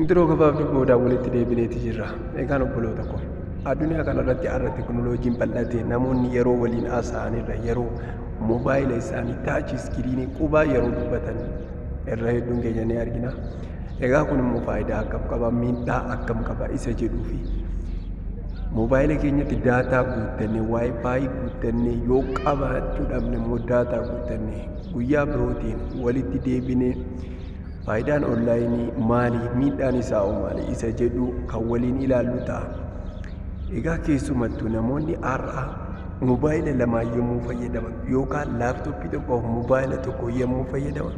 Intiroo gabaabduu boodaa walitti deebineeti jirra. Egaan obboloota koo addunyaa kanarratti har'a tekinooloojiin bal'ate namoonni yeroo waliin haasa'anirra yeroo moobaayila isaanii taachi iskiriinii qubaa yeroo dubbatan irra hedduun keenya ni argina. Egaa kun immoo faayidaa akkam qaba miidhaa akkam qaba isa jedhuu fi moobaayila keenyatti daataa guuttannee waayifaayi guuttannee yoo qabaachuu dhabne immoo daataa guuttannee guyyaa birootiin walitti deebinee faayidaan onlaayinii maali miidhaan isaa hoo maali isa jedhu kan waliin ilaallu ta'a. Egaa keessumattuu namoonni har'a moobaayila lamaa yommuu fayyadaman yookaan laaptooppii tokkoof moobaayila tokko yommuu fayyadaman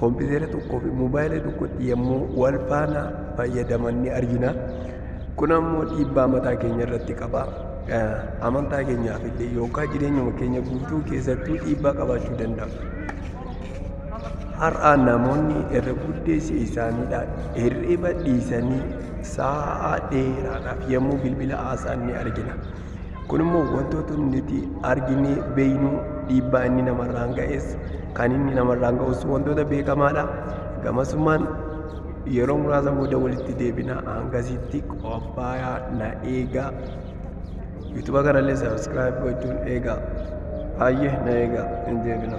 kompiitera tokkoo fi moobaayila tokkotti yommuu wal faana fayyadaman ni argina. Kun ammoo dhiibbaa mataa keenya irratti qaba. Amantaa keenyaaf illee yookaan jireenyuma keenya guutuu keessattuu dhiibbaa qabaachuu danda'a. Har'a namoonni irra guddeessi isaaniidha hirriba dhiisanii sa'a dheeraadhaaf yommuu bilbila haasa'an ni argina. Kun immoo wantoota nuti arginee beeknu dhiibbaa inni namarraan ga'es kan inni namarraan ga'us wantoota beekamaadha. Gamasumaan yeroo muraasa booda walitti deebina hangasitti qophaayaa na eegaa. Yuutuba kanallee sabiskiraayib gochuun eegaa. Baay'ee na eegaa hin deebina.